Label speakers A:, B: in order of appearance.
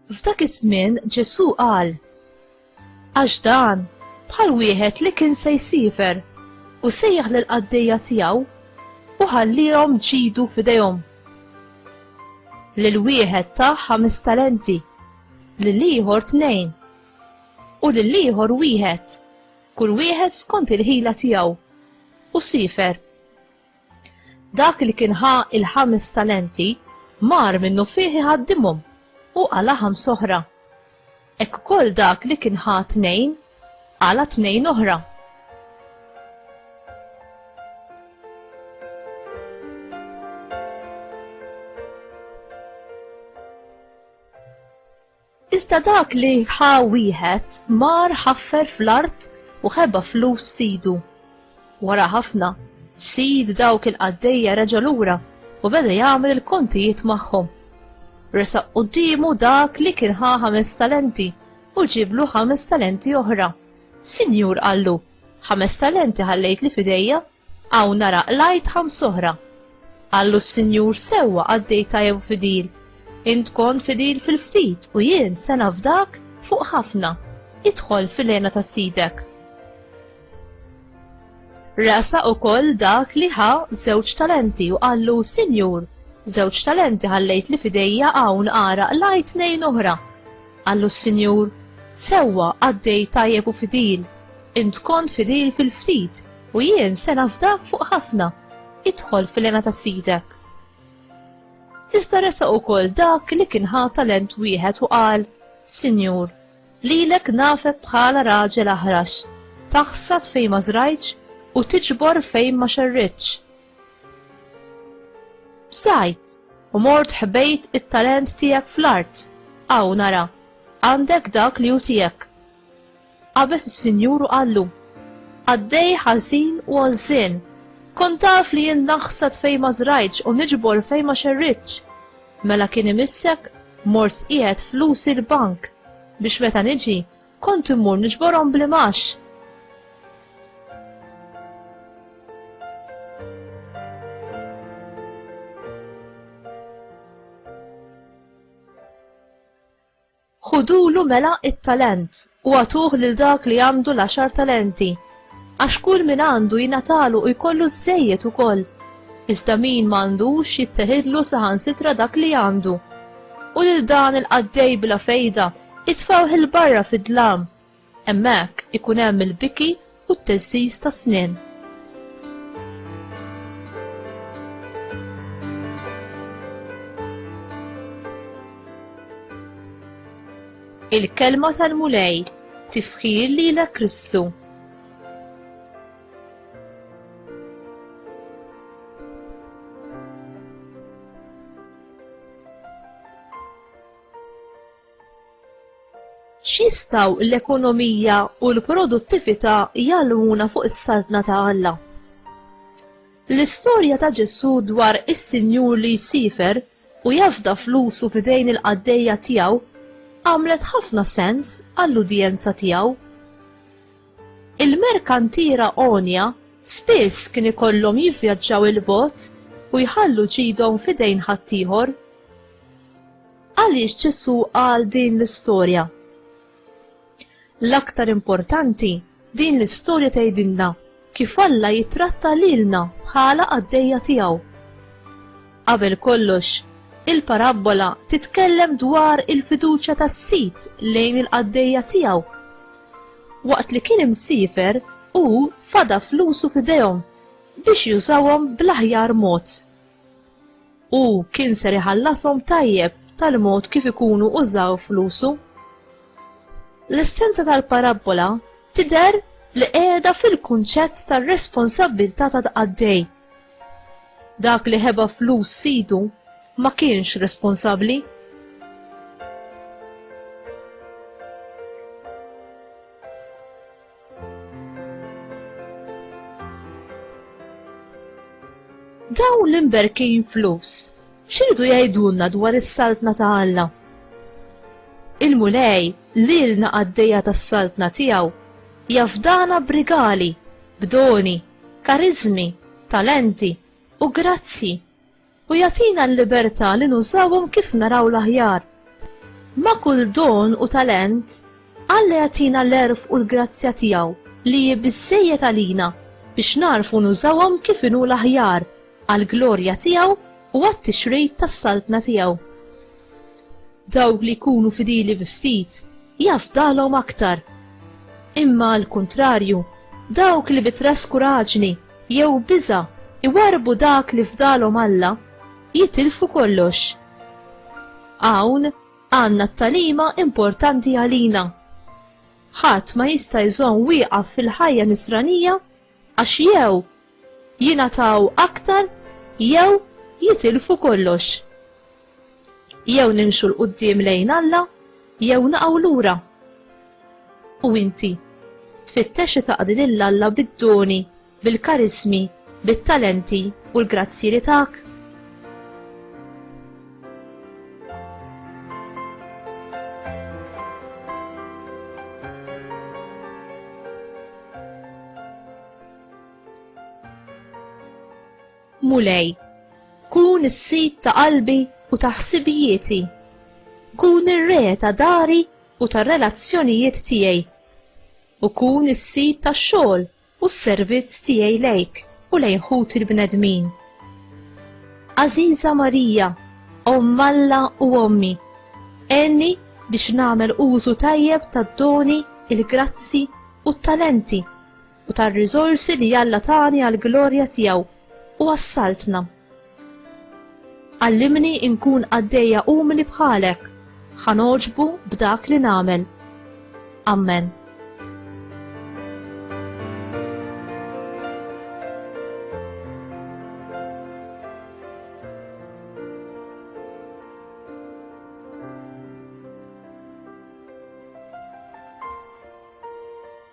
A: F'dak iż-żmien Ġesù qal, Għax dan bħal wieħed li kien se jsifer u sejjaħ lil qaddejja tiegħu u ħallihom ġidu f'idejhom. Lil wieħed ta' ħames talenti, lil ieħor tnejn, u lill-ieħor wieħed, kull wieħed skont il-ħila tiegħu, u sifer. Dak li kien ħa il-ħames talenti mar minnu fih iħaddimhom u għala ħams oħra. Ek ukoll dak li kien ħa tnejn għala tnejn oħra. Iżda dak li ħa wieħed mar ħaffer fl-art u ħeba flus sidu. Wara ħafna, sid dawk il-qaddejja reġa' lura u beda jagħmel il-kontijiet magħhom. Resaq quddiemu dak li kien ħa ħames talenti u ġieblu ħames talenti oħra. Sinjur, qallu, ħames talenti ħallejtli f'idejja, Hawn nara qlajt ħams oħra. Qallu s-Sinjur, Sewwa qaddej tajjeb u fidil. Int kont fidil fil-ftit u jien se nafdak fuq ħafna. Idħol fil-hena ta' sidek. Resaq ukoll dak li ħa żewġ talenti u qallu, Sinjur, żewġ talenti ħallejt li fidejja hawn ara qlajt tnejn oħra. Qallu s-Sinjur, Sewwa qaddej tajjeb u fidil. Int kont fidil fil-ftit U jien se nafdak fuq ħafna, idħol fil-għena ta' sidek. Iżda resa ukoll dak li kien ħa talent wieħed u qal, Sinjur, lilek nafek bħala raġel aħrax, taħsad fejn ma żrajtx u tiġbor fejn ma xerritx. Bżajt, u mort ħbejt it-talent tiegħek fl-art, aw nara, għandek dak li hu tiegħek. Qabeż is-Sinjur u qallu, Qaddej ħażin u għożżien! Kont taf li jien naħsad fejn ma żrajtx u niġbor fejn ma xerridtx. Mela kien imissek mort tqiegħed flusi l-bank, biex meta niġi, kont immur niġborhom bl-imgħax. Ħudulu mela t-talent u agħtuh lil dak li għandu l-għaxar talenti, għax kull min għandu jingħatalu u jkollu żżejjed ukoll, iżda min ma għandux jitteħidlu saħansitra dak li għandu. U lil dan il-qaddej bla fejda itfgħuh 'il barra fid-dlam. Hemmhekk ikun hemm il-biki u t-teżżiż tas-snien. Il-kelma tal-Mulej, tifħir lilek Kristu. X'jistgħu l-ekonomija u l-produttività jgħallmuna fuq is-Saltna ta' Alla? L-istorja ta' Ġesù dwar is-sinjur li jsiefer u jafda flusu f'idejn il-qaddejja tiegħu għamlet ħafna sens għall-udjenza tiegħu. Il-merkantiera għonja spiss kien ikollhom jivvjaġġaw 'il bogħod u jħallu ġidhom f'idejn ħaddieħor. Għaliex Ġesù qal din l-istorja? L-aktar importanti, din l-istorja tgħidilna kif Alla jittratta lilna bħala qaddejja tiegħu. Qabel kollox, il-parabbola titkellem dwar il-fiduċja tas-sid lejn il-qaddejja tiegħu. Waqt li kien imsiefer, hu fada flusu f'idejhom biex jużawhom bl-aħjar mod. Hu kien ser iħallashom tajjeb tal-mod kif ikunu użaw flusu. L-essenza tal-parabbola tidher li qiegħda fil-kunċett tar-responsabbiltà ta' tqaddej. Dak li ħeba flus sidu ma kienx responsabbli. Dawn l-imberkin flus, xiridu jgħidulna dwar is-saltna ta' Alla? Il-Mulej lilna għaddejja tas-saltna tiegħu jafdana b'rigali, b'doni, kariżmi, talenti u grazzji u jagħtina l-libertà li nużawhom kif naraw l-aħjar. Ma' kull don u talent, Alla jagħtina l-għerf u l-grazzja tiegħu li hi biżżejjed għalina biex nagħrfu nużawhom kif inhu l-aħjar għall-glorja tiegħu u għat-tixrid tas-Saltna tiegħu. Dawk li jkunu fidili bi ftit, jafdalhom aktar. Imma għall-kuntrarju, dawk li bi traskuraġni jew biża' iwarrbu dak li fdalhom Alla, jitilfu kollox. Hawn għandna t-tagħlima importanti għalina. Ħadd ma jista' jżomm wieqaf fil-ħajja nisranija għax jew jingħataw aktar jew jitilfu kollox. Jew nimxu 'l quddiem lejn Alla jew naqgħu lura. U inti? Tfittex li taqdi lil Alla bid-doni, bil-karismi, bit-talenti u l-grazzji li tak? Mulej, kun is-sid ta' qalbi u ta' ħsibijieti. Kun ir-re ta' dari u tar-relazzjonijiet tiegħi. U kun is-sid tax-xogħol u s-servizz tiegħi lejk u lejn ħuti l-bnedmin. Għażiża Marija, Omm Alla u ommi, għenni biex nagħmel użu tajjeb tad-doni, il-grazzji u t-talenti u tar-riżorsi li Alla tani għall-glorja tiegħu u għas-Saltna. Għallimni inkun qaddejja umli bħalek, ħa nogħġbu b'dak li nagħmel. Amen.